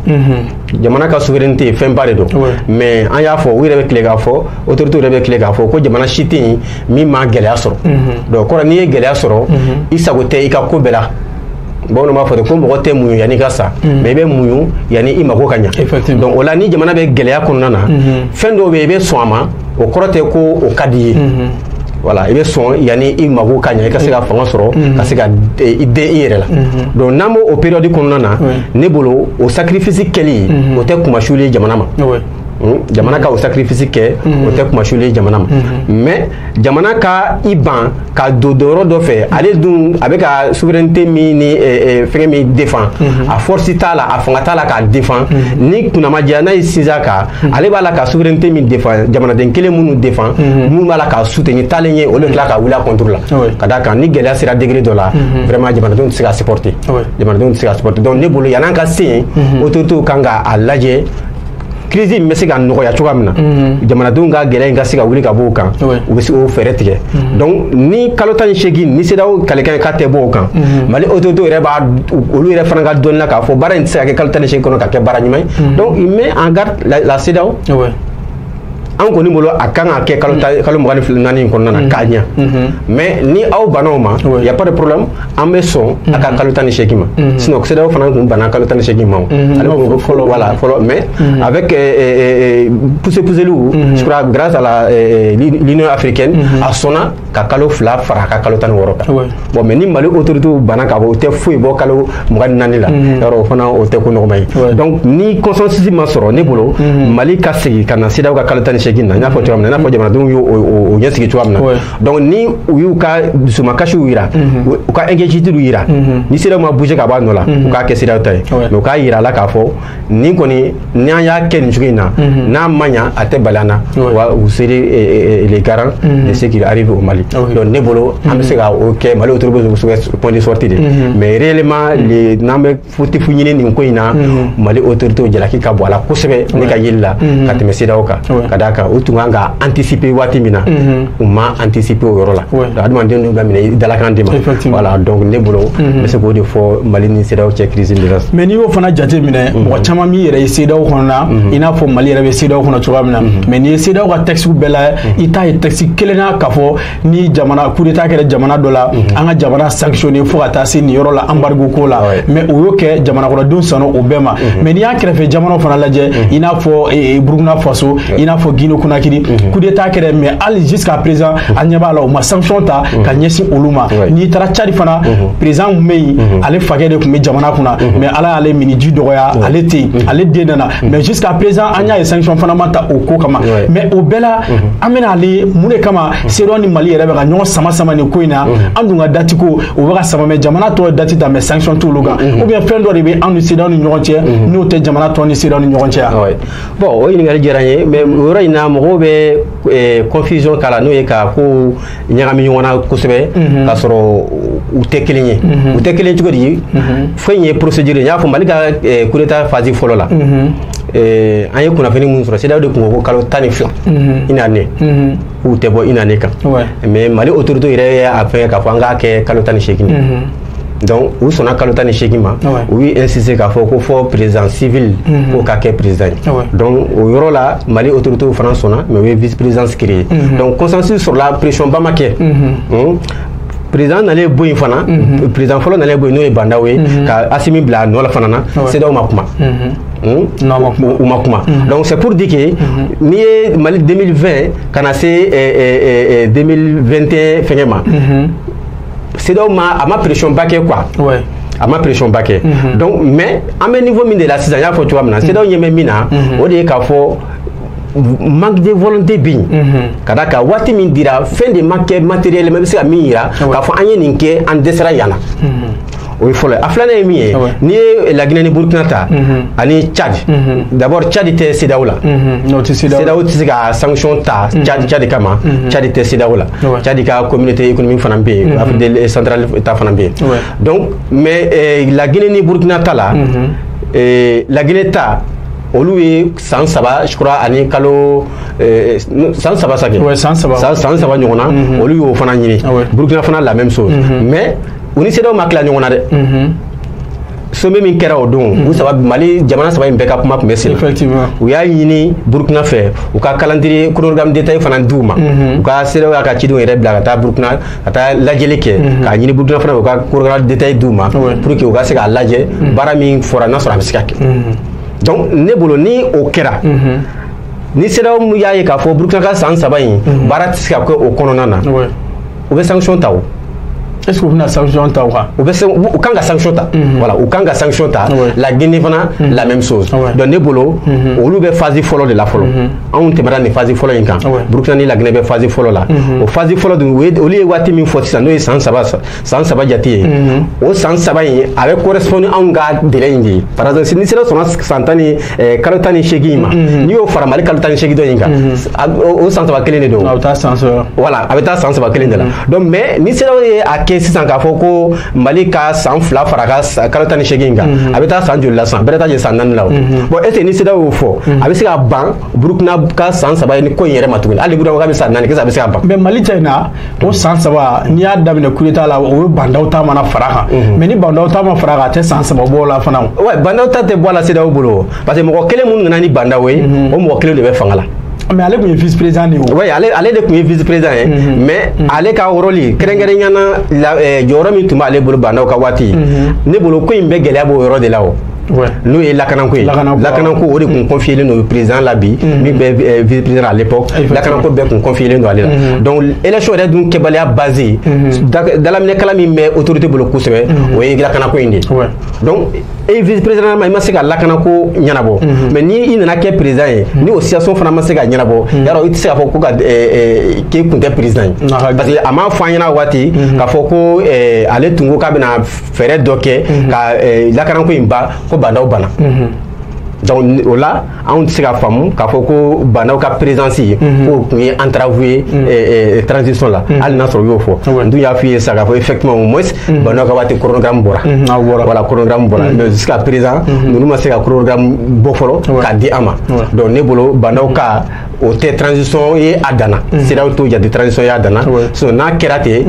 jamana ka souveraineté ye fɛnba de don mais an y'a fɔ u yɛrɛ bɛ tile k'a fɔ autorité yɛrɛ bɛ tile k'a fɔ ko jamana si tɛ yen min ma gɛlɛya sɔrɔ donc kɔrɔ n'i ye gɛlɛya sɔrɔ i sago tɛ i ka ko bɛɛ la bamananw b'a fɔ ten ko mɔgɔ tɛ muɲu yanni i ka sa mais i bɛ muɲu yanni i mago ka ɲa donc o la ni jamana bɛ gɛlɛya kɔnɔna na fɛn dɔw bɛ yen i bɛ sɔn a ma o kɔrɔ tɛ ko o ka di i ye voilà i bɛ sɔn yanni i mago ka ɲa i ka se ka fanga sɔrɔ mhm. ka se ka i dɛn i yɛrɛ la mhm. donc n'an b'o période kɔnɔna na ne bolo o sacrifice kɛli mhm. o tɛ kunmasuli ye jamana ma Hmm? jamana ka o sacrifice kɛ hmm. o tɛ kunmasuli ye jamana ma hmm. mais jamana ka i ban ka don don yɔrɔ dɔ fɛ ale dun a bɛ ka souveraineté min ni eh, eh, fɛngɛ min défend a force t'a la a fanga t'a la k'a défend ni kunna ma diya n'a y'i sinsin a kan ale b'a la ka souveraineté min défend jamanaden kelen minnu défend minnu b'a la k'a soutenir taalen ɲɛ olu de tila ka wuli a contre la ka d'a kan ni gɛlɛya sera degré dɔ la vraiment jamanadenw tɛ se ka supporter jamanadenw tɛ se ka supporter donc ne bolo yan'an ka se yen autorités kan ka a lajɛ crise in bɛ se ka nɔgɔya cogoya min na mhm. jamanadenw ka gɛlɛya in ka se ka wuli ka b'u kan u bɛ se k'o fɛɛrɛ tigɛ mhm. donc ni kalo tan ni seegin ni CEDEAO kalikan ye k'a tɛ bɔ o kan mhm. mali autorité yɛrɛ b'a olu yɛrɛ fana ka dɔnni na k'a fɔ baara in tɛ se ka kɛ kalo tan ni seegin kɔnɔ ka kɛ baara ɲuman ye donc il met en garde la, la CEDEAO an kɔni bolo a kan ka kɛ kalo mm. kalo mugan ni naani in kɔnɔna na mm. k'a ɲa mm-hmm. mais ni aw banna o ma y a pas de problème an bɛ sɔn a ka mm-hmm. kalo tan ni seegin ma mm-hmm. sinon CEDEAO fana tun banna kalo tan ni seegin ma o ale b'a fɔ ko fɔlɔ voilà fɔlɔ mais avec pousse pousseliw je crois grâce à la l'Union africaine a sɔnna ka kalo fila fara a ka kalo tan ni wɔɔrɔ kan bon mais ni mali autorité banna k'a fɔ u tɛ foyi bɔ kalo mugan ni naani la mm-hmm. yɔrɔ o fana o tɛ ko nɔgɔma ye donc ni consensus ma sɔrɔ ne bolo mm-hmm. mali ka segin ka na CEDEAO ka kalo tan ni seegin na n y'a fɔ cogoya min na i n'a fɔ jamanadenw y'o ɲɛsigi cogoya min na donc ni u y'u ka dusumakasiw yira mm-hmm. u ka inquiétude yira ni CEDEAO ma bouger ka bɔ a nɔ la u k'a kɛ CEDEAO ta ye mais u k'a yira a la k'a fɔ nin kɔni n'an y'a kɛ nin cogo in na n'a ma ɲa a tɛ bali an na wa u seraient eh, eh, eh, les garants de ce qui arrive au Mali ah donc ne bolo an bɛ se ka o kɛ Mali autorité bɛ se point de sortie de mais réellement le n'an bɛ fautif ɲini nin ko in na Mali autorité jalaki ka bon a la kosɛbɛ ne ka yeli la ka tɛmɛ CEDEAO kan ka d'a kan u tun kan ka anticiper waati min na u ma anticiper o yɔrɔ la adamaden dun ka minɛ i dalakan de ma voilà donc ne bolo n bɛ se k'o de fɔ Mali ni CEDEAO cɛ crise de la mais n'i y'o fana jate minɛ mɔgɔ caman b'i yɛrɛ ye CEDEAO kɔnɔ na i n'a fɔ Mali yɛrɛ bɛ CEDEAO kɔnɔ cogoya min na mais n'i ye CEDEAO ka texte bɛɛ la i t'a ye texte kelen na k'a fɔ ni jamana coup d'état kɛra jamana dɔ la an ka jamana sanctionner fo ka taa se nin yɔrɔ la embargo ko la mais o y'o kɛ jamanakɔnɔdenw sɔnna o bɛɛ ma mais n'i y'an kɛrɛfɛ jamana fana lajɛ i n'a fɔ Burkina Faso i n'a fɔ Guinée Conakry mhm. coup d'état kɛra mais hali jusqu'à présent mhm. an ɲɛ b'a la u ma sanction ta mhm. ka ɲɛsin olu ma n'i taara Tchad fana président min bɛ yen ale fakɛ de tun bɛ jamana kunna mais Ala y'ale minniji dɔgɔya ale tɛ yen ale den nana mais jusqu'à présent an y'a ye sanction fana ma ta o ko kama mais o bɛɛ la an bɛna a lajɛ mun de kama CEDEAO ni Mali yɛrɛ bɛ ka ɲɔgɔn sama sama nin ko in na an dun ka date ko o bɛ ka sama mais jamana tɔw ye date ta mais sanction t'olu kan ou bien fɛn dɔ de bɛ an ni CEDEAO ni ɲɔgɔn cɛ n'o tɛ jamana tɔw ni CEDEAO ni ɲɔgɔn cɛ yan. bon o ɲininkali diyara n ye mais o yɔrɔ in na mɔgɔw bɛ confusion k'a la n'o ye ka ko ɲagami ɲɔgɔn na kosɛbɛ k'a sɔrɔ u tɛ kelen ye u tɛ kelen cogo di fɔlɔ ye procédure n y'a fɔ Mali ka coup d'état phase fɔlɔ la an ye kunnafoni min sɔrɔ CEDEAO de tun ko ko kalo tan ni fila une année k'u tɛ bɔ une année kan mais Mali autorité yɛrɛ y'a fɛn k'a fɔ an k'a kɛ kalo tan ni seegin donc u sɔnna kalo tan ni seegin ma u ye insister k'a fɔ ko fo président civil mhm. k'o ka kɛ président ye donc o yɔrɔ la Mali autorités fana sɔnna mais u ye vice présidence créer mhm. donc consensus sɔrɔla pression ba ma kɛ mhm. hmm? président nalen bɔ yen fana président fɔlɔ nalen bɔ yen n'o ye Bah N'Daw ye ka Assimi bila a nɔ la fana na CEDEAO ma kuma Hmm? u ma kuma hmm. donc c'est pour dire que hmm. n'i ye Mali 2020 ka na se 2021 eh, eh, eh, eh, fɛngɛ ma CEDEAO ma a ma pression ba kɛ quoi. Ouais. a ma pression ba kɛ. Mhm. donc mais an bɛ niveau min de la sisan n y'a fɔ cogoya min na. CEDEAO ɲɛ bɛ min na. Mhm. o de ye k'a fɔ manque de volonté bɛ yen. Mhm. ka d'a kan waati min dira fɛn de ma kɛ matériellement i bɛ se ka min yira. k'a fɔ an ye nin kɛ an dɛsɛra yan na. o ye fɔlɔ ye a filanan ye min ye n'i ye La Guinée ni Burkina ta mhm. ani Tchad mhm. d'abord Tchad tɛ CEDEAO la mhm. CEDEAO tɛ se ka sanction ta Tchad kama Tchad tɛ CEDEAO la Tchad ka communauté économique fana bɛ yen afrique centrale ta fana bɛ yen donc mais eh, La Guinée ni Burkina ta la eh, La Guinée ta olu ye san saba je crois ani kalo eh, san saba sa kɛ san saba ɲɔgɔn na olu y'o fana ɲini ah Burkina fana la même chose mais u ni CEDEAO ma tila ɲɔgɔn na dɛ sommet min kɛra o don u saba mali jamana saba in bɛɛ ka kuma tun bɛ sen u y'a ɲini burukina fɛ u ka calendrier chronogramme détaillé fana d'u ma u ka CEDEAO y'a ka cidenw yɛrɛ bila ka taa burukina ka taa lajɛli kɛ k'a ɲini burukina fana u ka chronogramme détaillé d'u ma pour que u ka se k'a lajɛ baara min fɔra n'a sɔrɔ a bɛ se ka kɛ donc ne bolo ni o kɛra ni CEDEAO y'a ye k'a fɔ burukina ka san saba in baara tɛ se ka kɛ o kɔnɔna na u bɛ sanction ta o est ce que u bɛna sanction ta o kan u bɛ u kan ka sanction ta mhm. voilà u kan ka sanction ta la Guinée fana mhm. la même chose donc ne bolo mhm. olu bɛ phase fɔlɔ de la fɔlɔ anw tɛmɛna nin phase fɔlɔ in kan Burkina ni la Guinée bɛ phase fɔlɔ la o phase fɔlɔ dun olu ye waati min fɔ sisan n'o ye san saba jate ye o san saba in a bɛ correspond anw ka délai in de ye par exemple ni CEDEAO sɔnna san tan ni Eh, kalo tan ni seegin in ma mm-hmm. n'i y'o fara mali kalo tan ni seegin dɔ in kan mm-hmm. o san saba kelen de don a bɛ taa san saba voilà a bɛ taa san saba kelen de la mm-hmm. donc mais ni CEDEAO ye a kɛ sisan k'a fɔ ko mali ka san fila fara ka kalo tan ni seegin in kan a bɛ taa san joli la san bɛrɛ t'a jɛ san naani la o bon est ce que ni CEDEAO y'o fɔ a bɛ se ka ban burukina ka san saba ye ni ko in yɛrɛ ma tuguni hali burukina k'a bɛ san naani kɛ a bɛ se ka ban mais mali cɛ in na o san saba n'i y'a daminɛ coup d'état la o ye Bah N'Daw ta mana fara kan mhm. mais ni Bah N'Daw ta ma fara kan a tɛ san saba bɔ la fana wa Bah N'Daw ta tɛ bɔ a la CEDEAO bolo parce que mɔgɔ kelen minnu nana ni Bah N'Daw ye mhm. o mɔgɔ kelen de bɛ fanga la mais ale tun ye vice président de ye oui ale ale de tun ye vice président ye mhm. mais ale ka rôle kɛrɛnkɛrɛnya na eh, jɔyɔrɔ min tun b'ale bolo Bah N'Daw ka waati ne bolo ko in bɛɛ gɛlɛya b'o yɔrɔ de la o n'o ye lakanako ye lakanako o de tun confielen don président la bi mm. min bɛ eh, vice président à l'époque lakanako bɛɛ tun confielen don ale la mm. donc élection yɛrɛ dun kɛbaliya base mm. dalaminɛkala min bɛ autorité bolo kosɛbɛ o ye lakanako in de donc e vice président ma i ma se ka lakanako ɲɛnabɔ mais ni i nana kɛ président ye ni o situation fana ma se ka ɲɛnabɔ yarɔ i tɛ se k'a fɔ ko ka eh, eh, k'e kun tɛ président ye parce que a m'a fɔ an ɲɛna waati k'a fɔ ko ale tun ko k'a bɛna fɛɛrɛ dɔ kɛ mhm. ka eh, lakanako in ban ko Bah N'Daw bana mhm. donc o la anw tɛ se ka faamu k'a fɔ ko Bah N'Daw ka présence ye mhm. k'o tun ye entrave ye eh, eh, transition la hali n'a sɔrɔ u y'o fɔ n dun y'a f'i ye sisan k'a fɔ effectivement au moins Bah N'Daw ka waati chronogramme bɔra voilà chronogramme bɔra mais jusqu'à présent ninnu ma se ka chronogramme bɔ fɔlɔ k'a di an ma donc ne bolo Bah N'Daw ka o tɛ transition ye a danna CEDEAO t'o jate transition ye a danna sinon n'a kɛra ten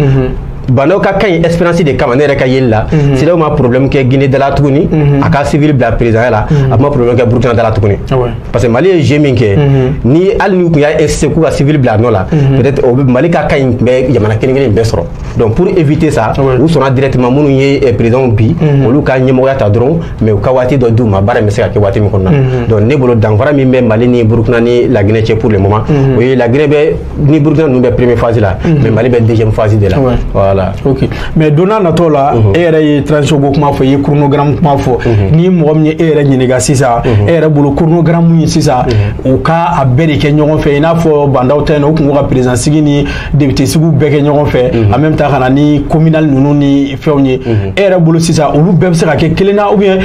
Bah N'Daw ka cas in expérience de kama ne yɛrɛ ka yeli la mhm. CEDEAO ma problème kɛ guinée dala tuguni mhm. a ka civil bila présidentya la mhm. a ma problème kɛ burkina dala tuguni ah parce que mali ye jeu min kɛ ni hali n'u tun y'a insisté k'u ka civil bila a nɔ la peut être o mali ka cas in tun bɛ jamana kelen kelen bɛɛ sɔrɔ donc pour éviter ça ah u sɔnna directement minnu ye eh, présidentw bi olu ka ɲɛmɔgɔya ta dɔrɔn mais u ka waati dɔ d'u ma baara in bɛ se ka kɛ waati min kɔnɔna donc ne bolo danfara min bɛ mali ni burkina ni la guinée cɛ pour le moment o ye la guinée bɛ ni burkina ninnu bɛ première phase la mhm. mais mali bɛ deuxième phase de la voilà ok mais don n'a natɔ la mhm. e yɛrɛ ye transition ko kuma fɔ i ye chronogramme kuma fɔ mhm. ni mɔgɔ min ye e yɛrɛ ɲininka sisan e yɛrɛ bolo chronogramme ye sisan u ka a bɛɛ de kɛ ɲɔgɔn fɛ i n'a fɔ ba ndaw ta yen u tun ko ka président sigi ni député sigiw bɛɛ kɛ ɲɔgɔn fɛ en même temps ka na ni communal ninnu ni fɛnw ye e yɛrɛ bolo sisan olu bɛɛ bɛ se ka kɛ kelen na ou bien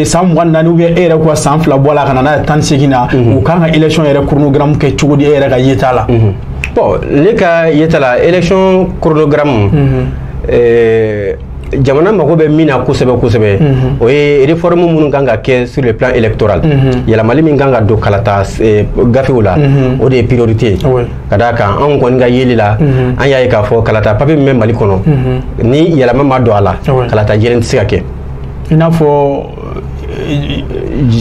san mugan naani ou bien e yɛrɛ ko san fila bɔ la ka na n'a ye tan segin na u kan ka élection yɛrɛ chronogramme kɛ cogo di e yɛrɛ ka yeta la bon ne ka yeta la élection chronogramme jamana mago bɛ min na kosɛbɛ kosɛbɛ o ye réforme minnu kan ka kɛ sur le plan électoral yɛlɛmali min kan ka don kalata gafew la o de ye priorité ka d'a kan anw kɔni ka yeli la an y'a ye k'a fɔ kalata papier min bɛ mali kɔnɔ ni yɛlɛma ma don a la kalata jɛlen tɛ se ka kɛ i n'a fɔ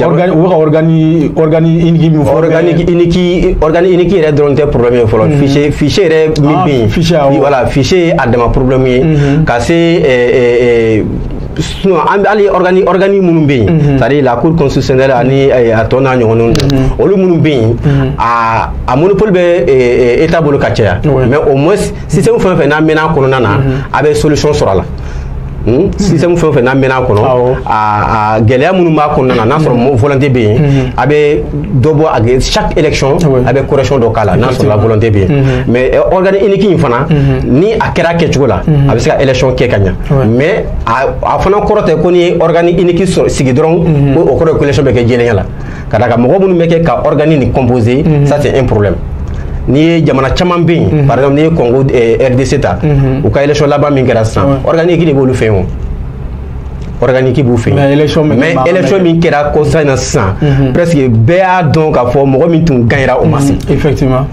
organe u ka organe organe unique min fɔ organe unique organe unique yɛrɛ dɔrɔn tɛ problème ye fɔlɔ fichier fichier yɛrɛ min bɛ yen voilà fichier ye a dama problème ye ka se sinon an hali organe organe minnu bɛ yen c'est à dire la cour constitutionnelle ani a tɔ n'a ɲɔgɔnnaw olu minnu bɛ yen a a monopole bɛ état bolo ka caya mais au moins système fɛn o fɛn n'a mɛnna a kɔnɔna na a bɛ solution sɔrɔ a la. Hmm? système fɛn o fɛn n'a mɛnna a kɔnɔ a gɛlɛya minnu b'a kɔnɔna na n'a sɔrɔ volonté bɛ yen mhm. a bɛ dɔ bɔ a bɛ chaque élection a bɛ correction dɔ k'a la n'a sɔrɔla volonté bɛ yen mhm. mais eh, organe unique in fana mhm. ni a kɛra a kɛcogo la a bɛ se ka élection kɛ ka ɲa mais a fana kɔrɔ tɛ ko n'i ye organe unique sigi dɔrɔn ko o kɔrɔ ye ko élection bɛ kɛ jɛlenya la. ka d'a kan mɔgɔ minnu bɛ kɛ ka organe nin composer mhm. ça c'est un problème n'i ye jamana caman bɛ yen mhm. par exemple n'i ye congo eh, rdc ta mhm. u ka élection laban min kɛra sisan organe unique de b'olu fɛ yen o organe unique b'u fɛ yen mais élection min kɛra kɔsa in na sisan presque bɛɛ y'a dɔn k'a fɔ mɔgɔ min tun gagnera o ma sigi effectivement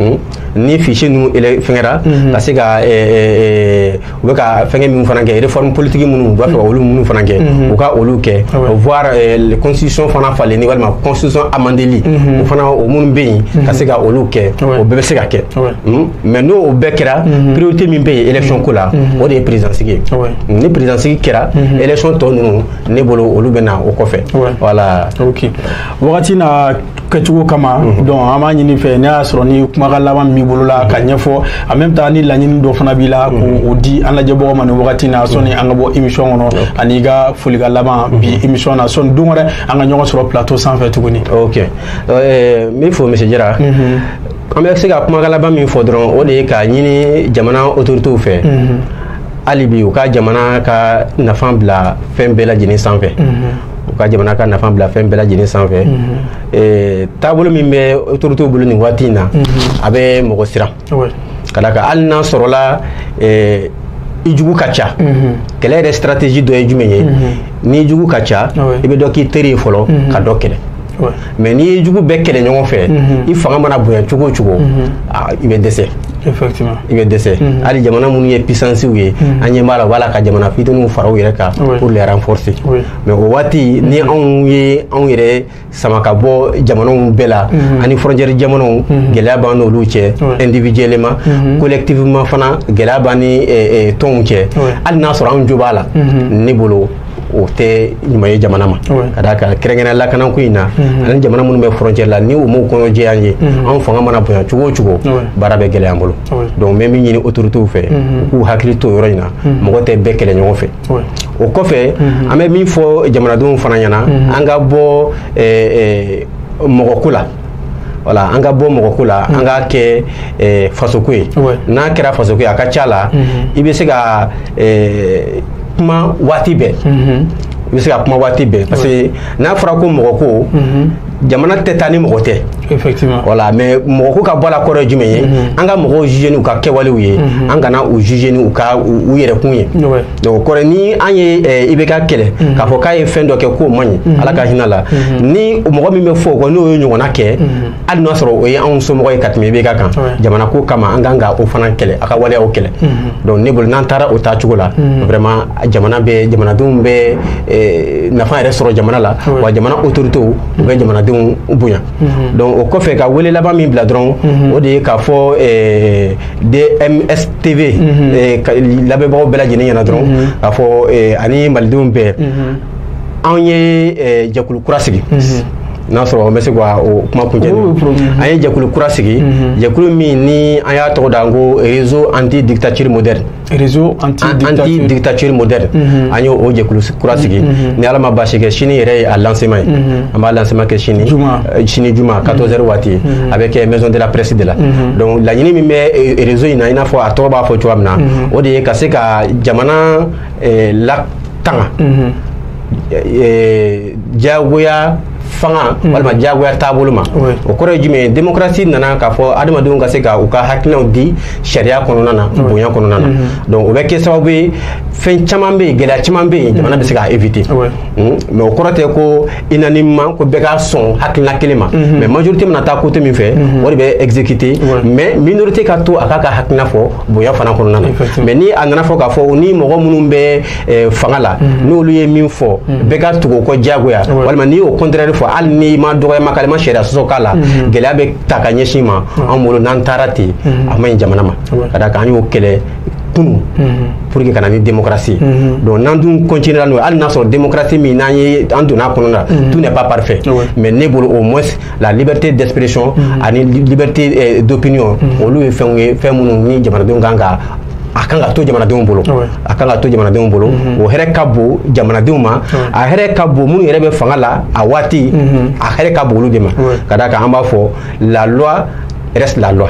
Hmm? ni fichier ninnu fɛnkɛra mhm. ka se ka eh, eh, eh, u bɛ ka fɛnkɛ minnu fana kɛ réforme politique minnu u b'a fɛ ka mhm. olu minnu fana kɛ mhm. u ka olu kɛ ah voire constitution fana falenni walima constitution amendeli o fana o minnu bɛ yen ka se ka olu kɛ ah o bɛɛ bɛ se ka kɛ ah hmm? mais n'o o bɛɛ kɛra priorité min bɛ yen élection ko la o de ye président sigi ye hmm, ni président sigi kɛra élection tɔ ninnu ne bolo olu bɛ na o kɔfɛ voilà ok wagati na kɛcogo kama mhm. donc an b'a ɲini i fɛ n'a y'a sɔrɔ ni kumakan laban b'i bolo la k'a mhm. ɲɛfɔ en même temps ni laɲini dɔ fana b'i la k'o mhm. di an lajɛbagaw ma nin wagati na sɔni an ka bɔ émission kɔnɔ ani i ka folikan laban bi émission na sɔni don wɛrɛ an ka ɲɔgɔn sɔrɔ plateau sanfɛ tuguni ok eh, n b'i fo monsieur jara an bɛ se ka kumakan laban min fɔ dɔrɔn o de ye k'a ɲini jamana autorités fɛ hali bi u ka jamana ka nafa bila fɛn bɛɛ lajɛlen sanfɛ u ka jamana ka nafa bila fɛn bɛɛ lajɛlen sanfɛ mhm. taabolo min bɛ autorités bolo nin waati in na mhm. a bɛ mɔgɔ siran ka d'a kan hali n'a sɔrɔla i jugu ka ca mhm. kɛlɛ yɛrɛ stratégie dɔ ye jumɛn ye n'i jugu ka ca i bɛ dɔ k'i teri ye fɔlɔ ka dɔ kɛlɛ mais n'i ye jugu bɛɛ kɛlɛ ɲɔgɔn fɛ i fanga mana bonya cogo o cogo i bɛ dɛsɛ i bɛ dɛsɛ hali jamana minnu ye puissances ye an ɲɛ b'a la u b'a la ka jamana fitininw fara u yɛrɛ kan pour les renforcer mais o waati ni anw ye anw yɛrɛ sama ka bɔ jamanaw bɛɛ la ani frontière jamanaw gɛlɛya b'an n'olu cɛ individuellement collectivement fana gɛlɛya b'an ni tɔnw cɛ hali n'a sɔrɔ anw jo b'a la ne bolo o tɛ ɲuman ye jamana ma ka d'a kan kɛrɛnkɛrɛnnenya lakanako in na ani jamana minnu bɛ frontière la ni u m'u kɔnɔ jɛ an ye anw fanga mana bonya cogo o cogo baara bɛ gɛlɛya an bolo donc n bɛ min ɲini autorités fɛ u k'u hakili to yɔrɔ in na mɔgɔ tɛ bɛɛ kɛlɛ ɲɔgɔn fɛ o kɔfɛ an bɛ min fɔ jamanadenw fana ɲɛna an ka bɔ mɔgɔko la voilà an ka bɔ mɔgɔko la an k'a kɛ eh, fasoko ye n'a kɛra fasoko ye a ka ca la mhm. i bɛ se ka eh, kuma waati bɛɛ mhm. i bɛ se ka kuma waati bɛɛ parce que n'a fɔra ko mɔgɔko mhm. jamana tɛ taa ni mɔgɔ tɛ effectivement voilà mais mɔgɔko ka bɔ a la kɔrɔ ye jumɛn ye mhm. an ka mɔgɔw juger n'u ka kɛwalew ye mhm. an kana u juger n'u ka u yɛrɛkun ye donc o kɔrɔ ni an ye eh, IBK kɛlɛ mm-hmm. k'a fɔ k'a ye fɛn dɔ kɛ k'o man ɲi mm-hmm. ala ka hinɛ a la mm-hmm. ni mɔgɔ min bɛ fɔ o kɔ n'o ye ɲɔgɔnna kɛ hali n'a sɔrɔ o ye anw somɔgɔ ye ka tɛmɛ IBK kan jamana ko kama an kan ka o fana kɛlɛ a ka waleyaw kɛlɛ donc ne bolo n'an taara o taacogo la vraiment jamana bɛ jamanadenw bɛ eh, nafa yɛrɛ sɔrɔ jamana la wa jamana autorités bɛ jamanadenw bonya donc o kɔfɛ ka wele laban min bila dɔrɔn o de ye k'a fɔ eh, DMS TV mhm. eh, lamɛnbagaw bɛɛ lajɛlen ɲɛna dɔrɔn mhm. k'a fɔ eh, ani malidenw bɛɛ mhm. anw ye eh, jɛkulu kura sigi n'a sɔrɔ an bɛ se ka o kuma kuncɛ an ye jɛkulu kura sigi jɛkulu min ni an y'a tɔgɔ da ko réseau anti dictature moderne réseau anti dictature moderne an y'o jɛkulu kura sigi ni ala ma baasi kɛ sini yɛrɛ ye a lancement ye an b'a lancement kɛ sini Euh, sini juma 14h mhm. waati mhm. a bɛ kɛ maison de la presse de la mhm. donc laɲini min bɛ euh, réseau in na i n'a fɔ a tɔgɔ b'a fɔ cogoya min na o de ye ka se ka jamana euh, latanga diyagoya fanga walima diyagoya taabolo ma o kɔrɔ ye jumɛn ye démocratie nana k'a fɔ adamadenw ka se ka u ka hakilinaw di sariya kɔnɔna na bonya kɔnɔna na donc o bɛ kɛ sababu ye fɛn caman bɛ yen gɛlɛya caman bɛ yen jamana bɛ se k'a éviter mais o kɔrɔ tɛ ko unanimement ko bɛɛ ka sɔn hakilina kelen ma mhm. mais majorité mana taa côté min fɛ mhm. o de bɛ exécuter mais minorité ka to a k'a ka hakilina fɔ bonya fana kɔnɔna na mais ni a nana fɔ k'a fɔ ni mɔgɔ minnu bɛ eh, fanga la mhm. n'olu ye min fɔ bɛɛ ka tugu o kɔ diyagoya walima n'i y'o contraire fɔ hali n'i ma dɔgɔyama k'a la i ma sariya sɔsɔ k'a la gɛlɛya bɛ ta ka ɲɛsin i ma an bolo n'an taara ten a man ɲi jamana ma ka d'a kan an y'o kɛlɛ kunu pour que ka na ni démocratie mhm. donc n'an dun continuera n'o ye hali n'a sɔrɔ démocratie min n'an ye an donna a kɔnɔ na mhm. tout n'est pas parfait mais ne bolo au moins la liberté d'expression mhm. ani liberté euh, d'opinion olu ye fɛnw ye fɛn minnu ni jamanadenw kan ka a kan ka to jamanadenw bolo a kan ka to jamanadenw bolo o hɛrɛ ka bon jamanadenw ma a hɛrɛ ka bon minnu yɛrɛ bɛ fanga la a waati a hɛrɛ ka bon olu de ma ka d'a kan an b'a fɔ la loi reste la loi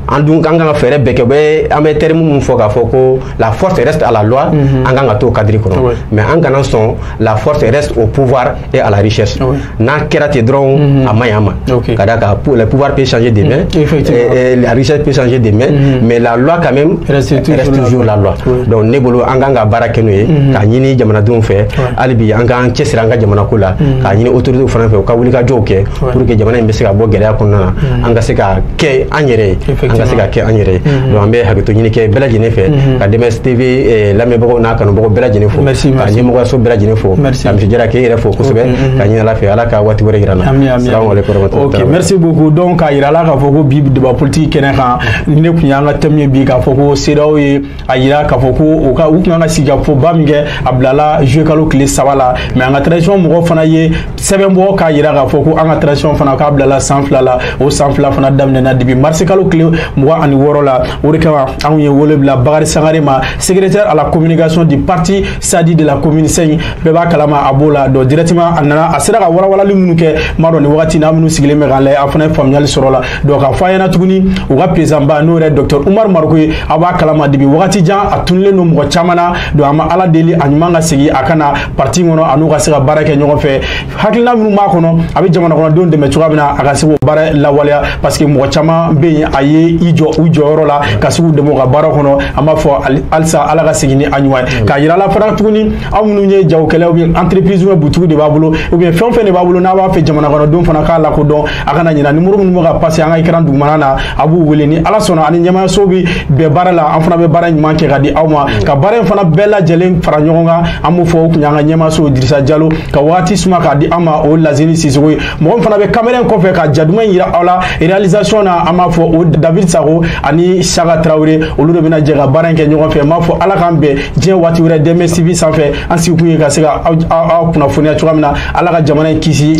an dun an kan ka fɛɛrɛ bɛɛ kɛ bɛ an bɛ terme min fɔ k'a fɔ ko la force reste à la loi mhm. an kan ka t'o cadre kɔnɔ mais an kana sɔn la force reste au pouvoir et à la richesse n'a kɛra ten dɔrɔn mhm. a man ɲi an ma ka d'a kan le pouvoir peut changer de main mhm. la richesse peut changer de main mais la loi quand même reste toujours la loi donc ne bolo an kan ka baara kɛ n'o ye k'a ɲini jamanadenw fɛ hali bi an k'an cɛsiri an ka jamanako la k'a ɲini autorités fana fɛ u ka wulikajɔw kɛ pour que jamana in bɛ se ka bɔ gɛlɛya kɔnɔna na an ka se ka kɛ an yɛrɛ ye an ka se ka kɛ an yɛrɛ ye mm-hmm. donc an bɛ hakɛto ɲini kɛ bɛɛ lajɛlen fɛ mm-hmm. ka dms tv eh, lamɛnbagaw n'a kanubagaw bɛɛ lajɛlen fo ka ɲɛmɔgɔyaso bɛɛ lajɛlen fo ka monsieur jara k'e yɛrɛ fo kosɛbɛ mm-hmm. ka ɲini ala fɛ ala ka waati wɛrɛ yira an na salamu aleykum ok merci beaucoup donc k'a yira la k'a fɔ ko bi débat politique kɛnɛ kan nin tun y'an ka thème ye bi k'a fɔ ko cedeao ye a yira k'a fɔ ko u ka u tun kan ka sigikafɔba min kɛ a bilala juillet kalo tile saba la mais an ka transition mɔgɔ fana ye sɛbɛn bɔ k'a yira k'a fɔ ko an ka transition fana k'a bilala san fila la o san fila fana daminɛna depuis marisi kalo tile mugan ani wɔɔrɔ la o de kama anw ye wele bila bakari sangare ma secrétaire à la communication du parti sadi de la commune cinq bɛɛ b'a kalama a b'o la donc directement a nana a sera ka walawalali minnu kɛ n b'a dɔn nin wagati na aw minnu sigilen bɛ k'an lajɛ a fana ye faamuyali sɔrɔ la donc k'a fɔ a ɲɛna tuguni u ka présidentba n'o yɛrɛ docteur umaru mariko ye aw b'a kalama depuis wagati jan a tunulen don mɔgɔ caman na donc an bɛ ala deli a ɲuman ka segin a ka na parti kɔnɔ a n'u ka se ka baara kɛ ɲɔgɔn fɛ hakilina minnu b'a kɔnɔ a bɛ jamanakɔnɔdenw dɛmɛ cogoya min na a ka se k'o baara lawaleya parce que mɔgɔ caman bɛ yen a ye i jɔ u jɔyɔrɔ la ka se k'u dɛmɛ u ka baara kɔnɔ an b'a fɔ halisa ala ka segin ni a ɲuman ye k'a yira la fana tuguni aw minnu ye jagokɛlaw ye entreprise ou bien butigi de b'a bolo ou bien fɛn o fɛn de b'a bolo n'a b'a fɛ jamanakɔnɔdenw fana k'a lakodɔn a kana ɲina nimoro minnu bɛ ka pase an ka ikran dugumana na a b'u wele ni ala sɔnna ani ɲɛmaayaso bɛ bɛn baara la an fana bɛ baara ɲuman kɛ ka di aw ma ka baara in fana bɛɛ lajɛlen fara ɲɔgɔn kan an b'o fɔ o kun y'an ka ɲɛmaayaso dirisa jalo ka waati suma k'a di an ma o lasini sisɔkɔ ye mɔgɔ min fana bɛ kamera in kɔfɛ ka ja duman in yira aw la realisation na an b'a fɔ o david sago ani saka tarawele olu de bɛna jɛ ka baara in kɛ ɲɔgɔn fɛ n b'a fɔ ala k'an bɛn diɲɛ waati wɛrɛ dms tv sanfɛ an sigikun ye ka se ka aw kunnafoniya cogoya min na ala ka jamana in kisi